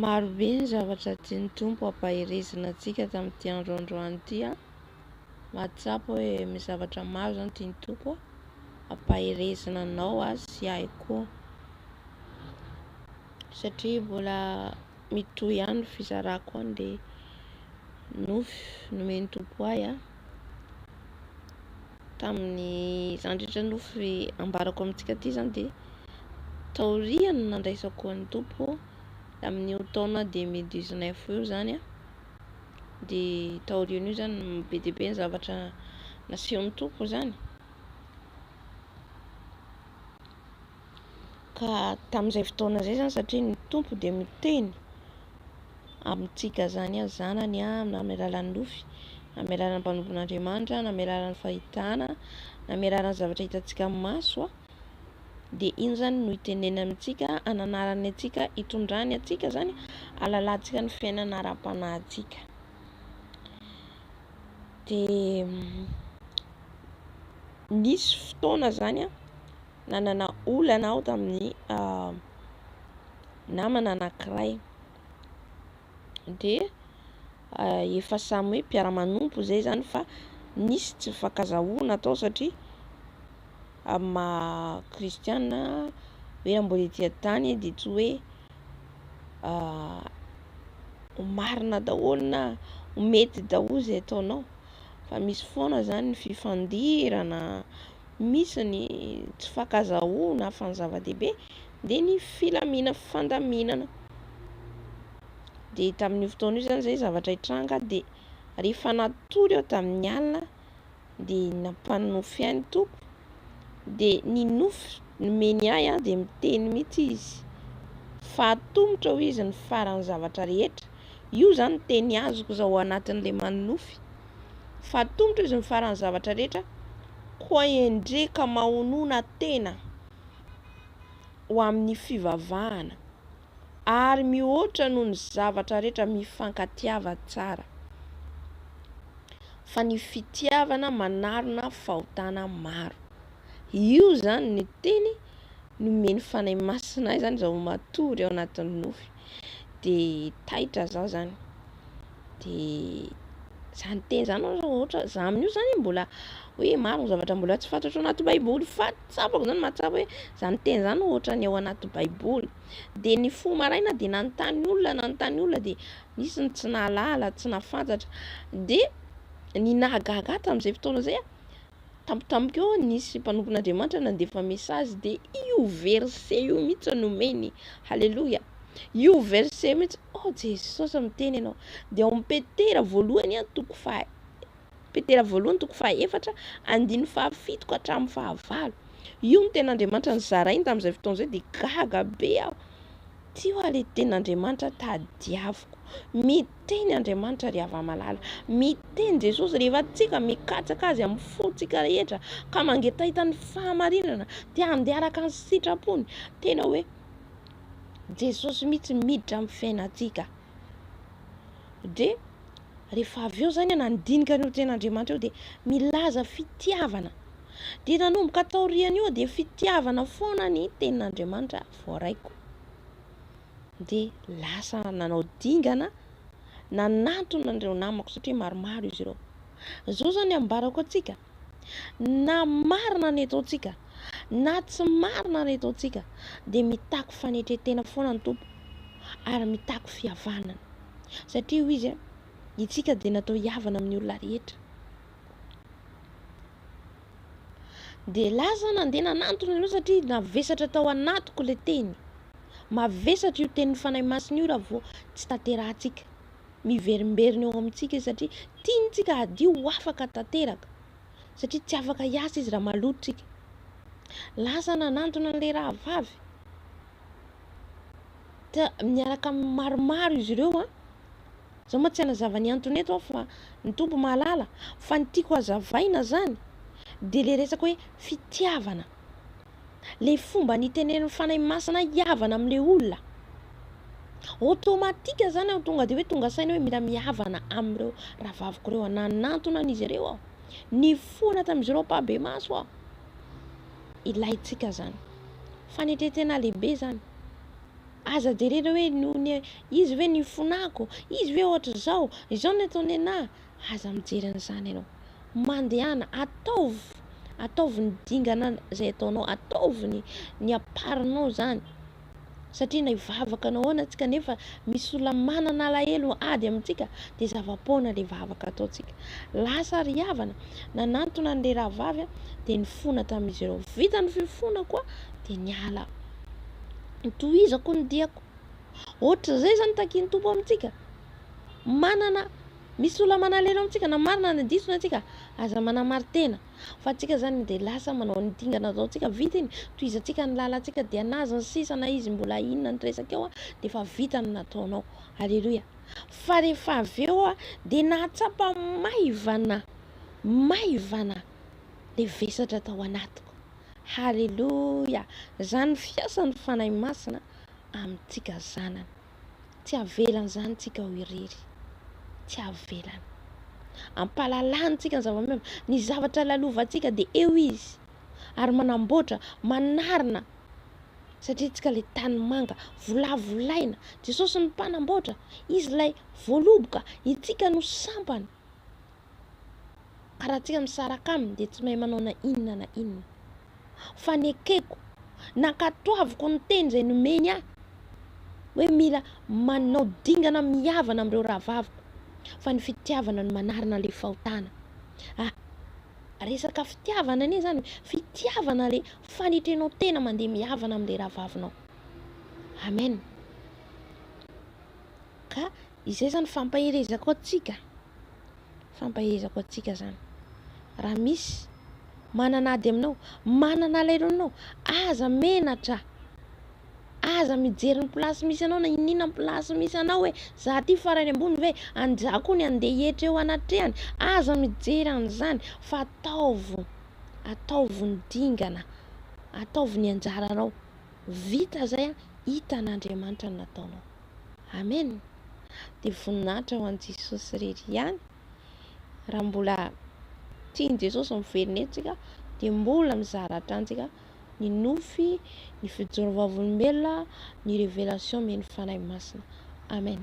Maro be ny zavatra tian'ny Tompo hampaherezana antsika tamin'ity andro androany ity a! Mahatsapa hoe misy zavatra maro izany tian'ny Tompo hampaherezana anao sy ahy koa satria mbola mitohy ihany ny fizarako any dia nofy nomen'ny Tompo ahy an, tamin'ny izany rehetra nofy ambarako amintsika ity izany dia taorian'ny nandraisako an'ny Tompo tamin'io taona deux mille dix neuf io izany an, dia taorian'io izany no be dia be ny zavatra nasehon'ny Tompo izany. Ka tamin'izay fotoana izay izany satria ny Tompo dia miteny amintsika izany hoe zanany aho na amin'ny alalan'ny nofy na amin'ny alalan'ny mpanompon'Andriamanitra na amin'ny alalan'ny fahitana na amin'ny alalan'ny zavatra hitantsika amin'ny maso dia iny izany no hitenenany amintsika hananarany antsika hitondrany antsika izany hahalalantsika ny fiainana ara-panahintsika dia nisy fotoana izany an nanana olana aho tamin'ny namana anankiray dia efa samy hoe mpiara-manompo izay izany fa nisy tsy nifankazahoana tao satria amin'ny maha kristiana hoe raha mbola ety an-tany dia tsy hoe ho marina daholo na ho mety daholo izay ataonao fa misy foana izany ny fifandirana misy ny tsy fankazahoana fa ny zava-dehibe dia ny filamina fandaminana dia tamin'io fotoana io izany izay zavatra hitranga dia rehefa natory aho tamin'ny alina dia nampanonofy ahy ny tompo dia ny nofy nomeny ahy aho dia miteny mihitsy izy fa atomotra hoy izy ny faran'ny zavatra rehetra io izany teny azoko izao anatin'ilay manonofy fa ny Tompo izy mifaran'ny zavatra rehetra koa endre ka mahonona tena ho amin'ny fivavahana ary mihoatra noho ny zavatra rehetra mifankatiava tsara fa ny fitiavana manarona fahotana maro io zany ny teny nomeny fanahy masina izany izao matory ao anatin'ny nofy de taitra zah zany de zah niteny zany oe ohatra zah amin'io zany mbola hoe maro ny zavatra mbola tsy fantatro anaty baiboly fa tsapako zany mahatsapa hoe zah miteny zany ohatra ny ao anaty baiboly de ny fo maraina de nanontany olona nanontany olona de nisy ny tsy nahalala tsy nahafantatra de ny nahagaga ahy tam'izay fotoana zay a. tampotampoka eo nisy mpanompon'Andriamanitra nandefa message dia io verset io mihitsy nomeny. Haleloia. Io verset mihitsy, oh Jesosy miteny ianao. Dia ao amin'ny Petera voalohany an toko faha Petera voalohany toko faha efatra andiny faha fito ka hatramin'ny faha valo. Io ny ten'Andriamanitra nizarainy tamin'izay fotoana izay dia gaga be aho. Ty hoa le ten'Andriamanitra tadiaviko. Mit Miteny Andriamanitra ry Ava malala. Miteny Jesosy rehefa tsika mikatsaka Azy amin'ny fo tsika rehetra ka mangetaheta ny fahamarinana dia handeha araka ny sitrapony. Tena hoe Jesosy mihitsy miditra amin'ny fiainantsika. Dia rehefa avy eo zany nandinika an'io teny Andriamanitra io dia milaza fitiavana. Dia nanomboka taorian'io dia fitiavana foana ny tenin'Andriamanitra voaraiko. dia lasa nanao dingana nanantona an'ireo namako satria maromaro izy ireo. Izao izany ambarako antsika, na marina ny ataontsika, na tsy marina ny ataontsika, dia mitaky fanetren-tena foana ny Tompo ary mitaky fihavanana. Satria hoy izy, isika dia natao hihavana amin'ny olona rehetra. Dia lasa aho nandeha nanantona an'ireo satria navesatra tao anatiko ilay teny. Mavesatra io tenin'ny Fanahy Masina io raha vao tsy tanterahantsika. Miverimberina eo amintsika izy satria tiantsika hadio ho afaka tanteraka. Satria tsy afaka hiasa izy raha maloto tsika. Lasa aho nanantona an'ilay rahavavy. Ta- Niaraka amin'ny maromaro izy ireo an. Za ma tsy hanazava ny antony eto aho fa ny Tompo mahalala fa ny tiako hazavaina zany de le resaka hoe fitiavana le fomba nitenenin'ny Fanahy Masina hihavana amle olona automatique zany aho tonga de hoe tonga saina hoe mila mihavana amreo rahavaviko reo aho nanantona an'izy ireo aho nifohana tam'izy ireo ampahibemaso aho ilaintsika zany fanetretena lehibe zany Aza jerena hoe noho ny izy ve no ifonako, izy ve ohatr'izao, izao no ataony anah. Aza mijery an'izany ianao. Mandehana, ataovy, ataovy ny dingana izay ataonao, ataovy ny, ny aparinao izany. Satria na hivavaka anao ahoana tsika nefa misy olona manana alahelo ady amintsika dia zava-poana ilay vavaka ataontsika. Lasa ry havana nanantona an'ilay rahavavy dia nifona tamin'izy ireo. Vita ny fifonako dia niala. Tohizako ny diako. Ohatr'izay izany ny takin'ny Tompo amintsika. Manana, misy olona manalelo amintsika, na marina na diso ny antsika, aza manamarin-tena. Fa antsika izany dia lasa manao an'iny dingana ataontsika, vita iny, tohizantsika ny lalantsika, dia na azony sisa, na izy mbola inona ny resaka eo, dia efa vita ny nataonao. Aleloia. Fa rehefa avy eo dia nahatsapa maivana, maivana ilay vesatra tao anatiko. Haleloia! Izany ny fiasan'ny Fanahy Masina amintsika zanany. Tsy havelany izany tsika ho irery. Tsy havelany. Ampahalalany tsika ny zava-miova. Ny zavatra lalovantsika dia eo izy ary manamboatra, manarina satria tsika ilay tanimanga volavolaina. Jesosy no mpanamboatra, izy ilay voaloboka, itsika no sampany. ka raha tsika misaraka aminy dia tsy mahay manao na inona na inona fa nekeko nankatoaviko ny teny izay nomeny ahy hoe mila manao dingana mihavana amin'ireo rahavaviko fa ny fitiavana no manarina ilay fahotana ah resaka fitiavana anie izany fitiavana ilay fanetrenao tena mandeha mihavana amin'ilay rahavavinao amen ka Izay izany fampaherezako antsika, fampaherezako antsika izany. Raha misy manana ady aminao, manana alahelo aminao, aza menatra, aza mijery ny place misy anao na iniana ny place misy anao hoe za aty farany ambony ve, an'izaho koa ny andeha hihetra eo anatrehany, aza mijery an'izany fa ataovy, ataovy ny dingana, ataovy ny anjaranao. Vita izay an, hitan'Andriamanitra ny nataonao. Amen dia voninahitra ho an'i Jesosy irery ihany raha mbola tian'i Jesosy miverina eto tsika dia mbola mizara hatrany tsika ny nofy ny fijoro vavolombelona ny révélation men'ny Fanahy Masina Amen